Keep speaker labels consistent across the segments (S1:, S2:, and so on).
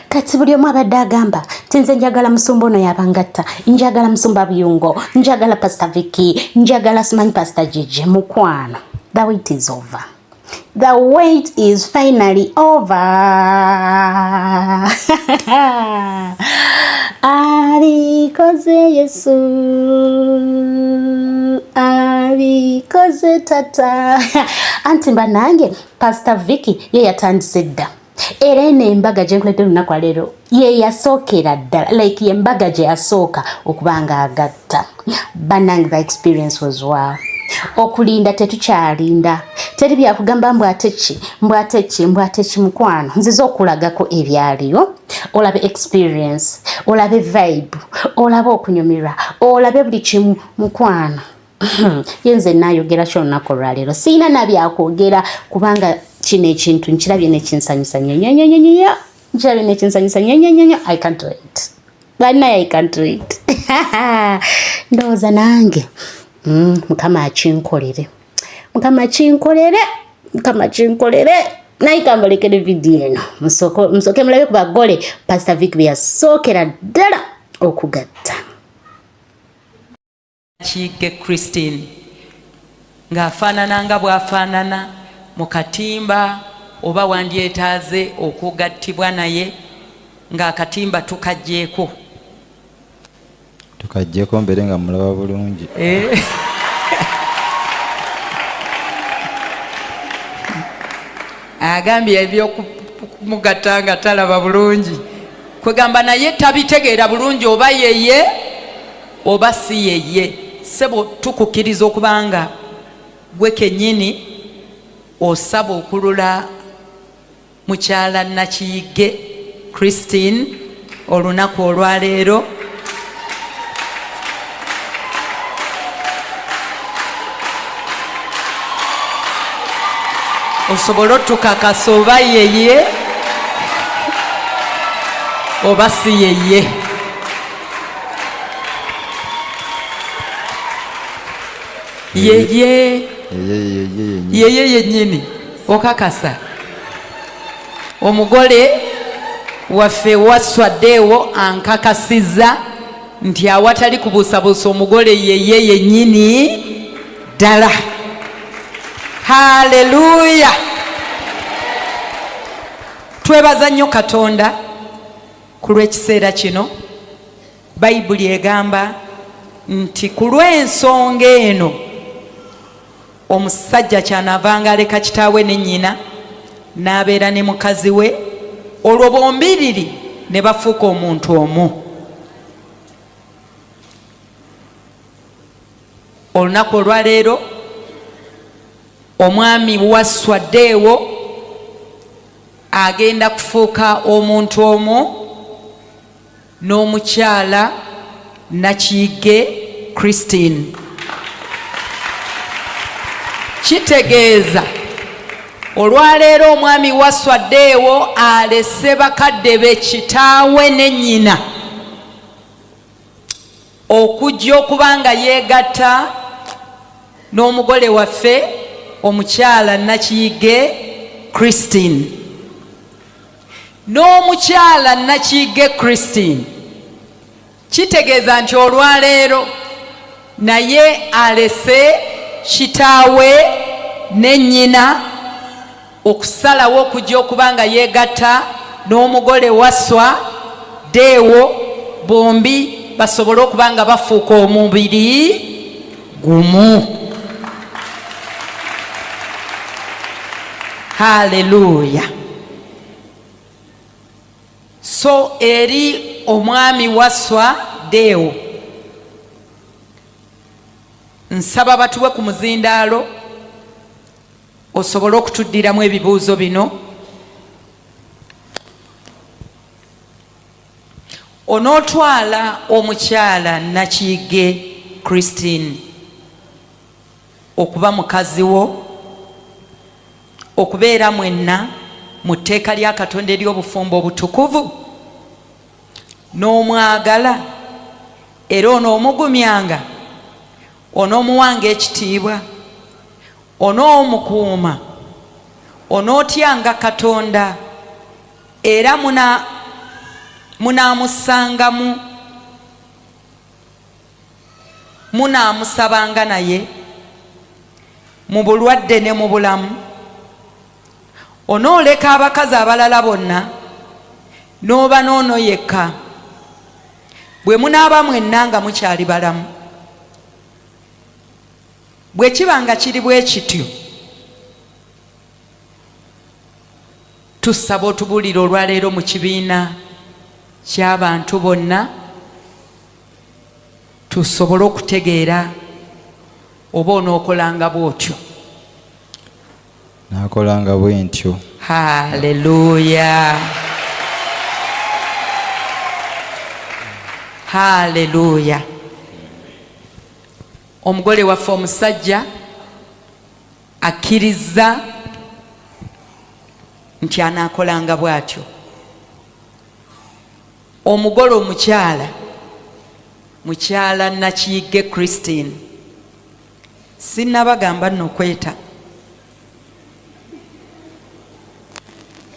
S1: kati buli omu abadde agamba tinze njagala musumba ono yabangatta njagala musumba buyungo njagala pasta viki njagala simanyi pasta jiji mukwano the wait is over the wait is finally over alikoze yesu alikoze tata anti mba nange pasta viki ye yatandise dda era eno embaga gyenkuledde olunaku aleero yeyasookera ddala like yembaga gye yasooka okuba nga agatta banange the experience was wow okulinda tetukyalinda teri byakugamba mbu ate ki mbu ate ki mbu ate ki mukwano nziza okulagako ebyaliyo olabe experience olabe vibe olabe okunyumirwa olabe buli kimu mukwano ye nze nayogera ki olunaku olwaleero sirina nabyakwogera kubanga kino ekintu nkirabye nekinsanyusa nyo nyo nyo nyo nyo nkirabye nekinsanyusa nyo nyo nyo nyo i can't wait banaye i can't wait ndowooza nange mm, mukama akinkolere mukama akinkolere mukama akinkolere naye kambalekere vidiyo eno musooke mulabe ku bagole pasita vic byeyasookera ddala okugatta
S2: Kiige Christine ng'afaanana nga bw'afaanana mu katimba oba wandyetaaze okugattibwa naye ng'akatimba tukaggyeko
S3: tukaggyeko mbeere nga mulaba bulungi eh.
S2: agambye ebyokumugatta nga talaba bulungi kwegamba naye tabitegeera bulungi oba yeye oba si yeye sebo tukukiriza okubanga gwe kenyini osaba okulula mukyala nakiyigge christine olunaku olwaleero osobole otukakasa oba yeye oba si yeye yeye yeye yenyini okakasa omugole waffe waswaddeewo ankakasiza nti awatali kubuusabuusa omugole yeye yenyini ddala haleluya twebaza nnyo katonda Ku lw'ekiseera kino, Bayibuli egamba nti ku lw'ensonga eno omusajja kyanaavanga aleka kitaawe ne nnyina n'abeera ne mukazi we olwo bombiriri ne bafuuka omuntu omu. olunaku olwaleero omwami wasswa deewo agenda kufuuka omuntu omu n'omukyala nakiyige christine kitegeeza olwaleero omwami wasswa deewo alese bakadde be kitaawe ne nnyina okujja okuba nga yeegatta n'omugole waffe omukyala nakiyige christine n'omukyala nakiyige christine kitegeeza nti olwaleero naye alese kitaawe ne nnyina okusalawo okujja okuba nga yeegatta n'omugole waswa deewo bombi basobole okuba nga bafuuka omubiri gumu haleluya so eri omwami waswa deewo nsaba batuwe ku muzindaalo osobole okutuddiramu ebibuuzo bino onootwala omukyala nakiyige christine okuba mukazi wo okubeera mwenna mu tteeka lya katonda ery'obufumbo obutukuvu n'omwagala era onoomugumyanga onoomuwanga ekitiibwa onoomukuuma onootyanga katonda era munaamussangamu munaamusabanga naye mu bulwadde ne mu bulamu onooleka abakazi abalala bonna n'oba noono yekka bwe munaaba mwenna nga mukyali balamu bwe kiba nga kiri bwe kityo tusaba otubuulire olwaleero mu kibiina ky'abantu bonna tusobole okutegeera oba onookolanga bw'otyo
S3: Nakolanga bwe ntyo. Haleluya!
S2: Haleluya! Omugole waffe omusajja akkirizza nti anaakolanga bw'atyo. Omugole omukyala mukyala Nakiyigge Christine. Sinnabagamba nno kweta.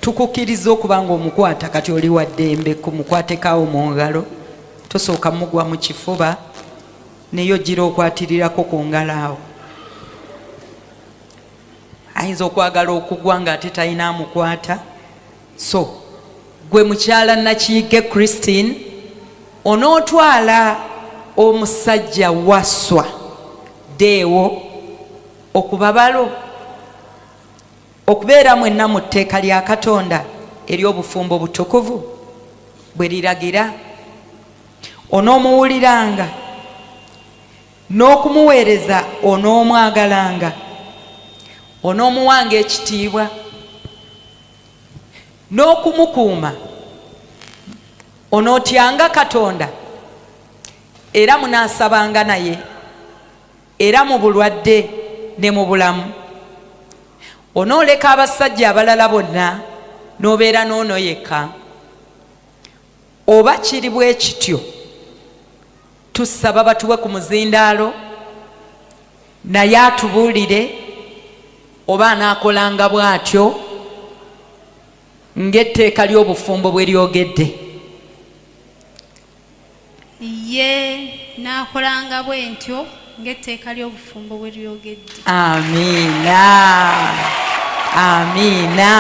S2: Tukukkirizza okuba ng'omukwata kati oli wa ddembe ku mukwatekaawo mu ngalo, tosooka mugwa mu kifuba naye ojjira okwatirirako ku ngalo awo. Ayinza okwagala okugwa ng'ate talina amukwata. So gwe mukyala Nakiyigge Christine onootwala omusajja Wasswa Deo okuba balo? Okubeera mwenna mu tteeka lya Katonda ery'obufumbo obutukuvu bwe liragira? Onoomuwuliranga n'okumuweereza? Onoomwagalanga? Onoomuwanga ekitiibwa? n'okumukuuma onootyanga katonda era munaasabanga naye era mu bulwadde ne mu bulamu onooleka abasajja abalala bonna n'obeera n'ono yekka Oba kiri bwe kityo, tusaba batuwe ku muzindaalo naye atubuulire oba anaakolanga bw'atyo ng'etteeka ly'obufumbo bwe lyogedde.
S4: Ye, nnaakolanga bwe ntyo ng'etteeka ly'obufumbo bwe lyogedde. Amiina.
S2: Amiina.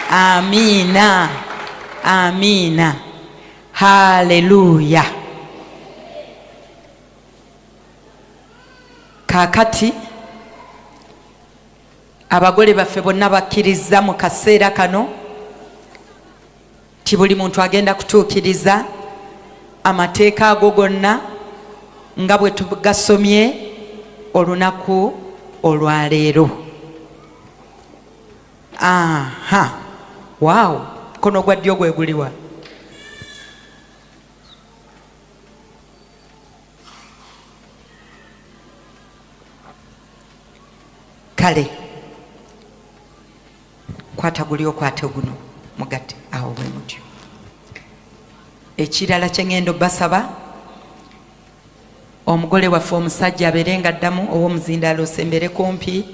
S2: Amiina. Amiina. Haleluya. Kaakati abagole baffe bonna bakkirizza mu kaseera kano. nti buli muntu agenda kutuukiriza amateeka ago gonna nga bwe tugasomye olunaku olwaleero aha waawo mukono gwa ddyo gwe guliwa kale kwata guli okwate guno mugatte awo bwe mutyo ekirala kyengendo basaba omugole waffe omusajja abeere nga addamu ow'omuzindaalo osembere kumpi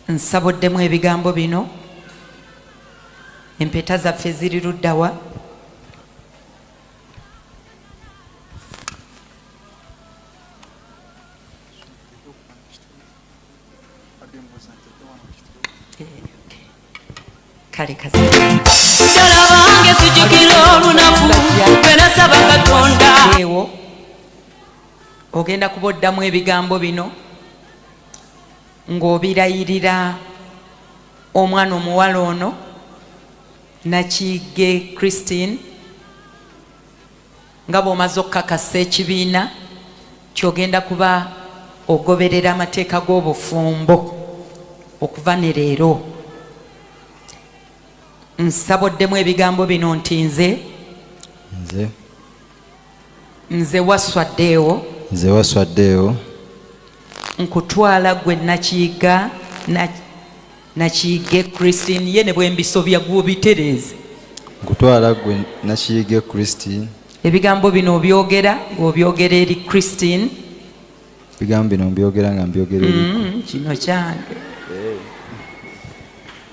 S2: nsabuddemu ebigambo bino empeta zaffe ziri luddawa kale kasi mujala
S5: wange sijukira olunaku lwenasaba katonda ewo
S2: ogenda kuba oddamu ebigambo bino ng'obirayirira omwana omuwala ono nakiige christine Nga bw'omaze okukakasa ekibiina ky'ogenda kuba ogoberera amateeka g'obufumbo okuva ne leero, nsaba oddemu ebigambo bino nti nze nze nze waswaddeewo nze waswaddeewo nkutwala gwe nakiyigga nakiyige christine ye ne bwembisobya gwobitereeze nkutwala
S3: gwe nakiyige christine ebigambo bino
S2: obyogera ng'obyogera eri christine
S3: ebigambo bino mbyogera
S2: nga
S3: mbyogera eri mm, kino kyange eh.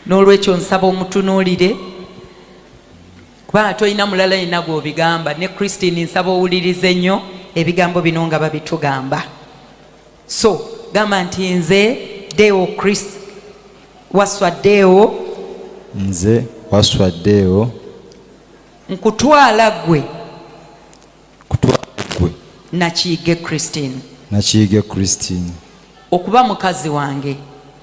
S2: n'olwekyo nsaba omutunuulire kubanga tolina mulala yina gw'obigamba ne christine nsaba owulirize nnyo ebigambo bino nga babitugamba so gamba nti nze deo chris waswa deo nze
S3: waswa deo
S2: nkutwala gwe kutwala gwe
S3: nakiyige christine nakiyige christine okuba mukazi
S2: wange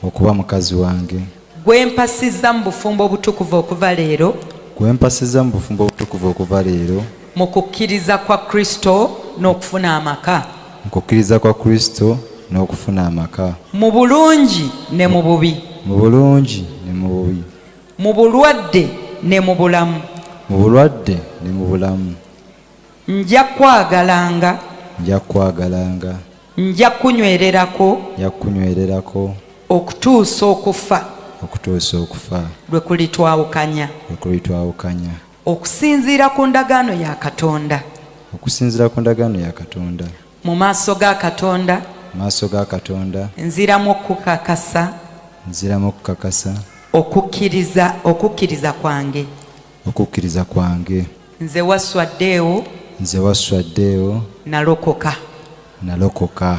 S2: okuba mukazi wange Gwe mpasizza mu bufumbo obutukuvu okuva leero. Gwe mpasizza mu bufumbo obutukuvu okuva leero. Mu kukkiriza kwa Kristo n'okufuna amaka. Mu kukkiriza kwa Kristo n'okufuna amaka. Mu bulungi ne mu bubi. Mu bulungi ne mu bubi. Mu bulwadde ne mu bulamu. Mu bulwadde ne mu bulamu. Nja kwagalanga. Nja kwagalanga. nja kukunywererako nja kukunywererako okutuusa okufa okutuusa okufa lwe kulitwawukanya lwe kulitwawukanya okusinziira ku ndagaano ya katonda okusinziira ku ndagaano ya katonda mu maaso ga katonda mu maaso ga katonda nziramu okukakasa nziramu okukakasa okukkiriza okukkiriza kwange okukkiriza kwange nze wasswa deo nze wasswa deo nalokoka nalokoka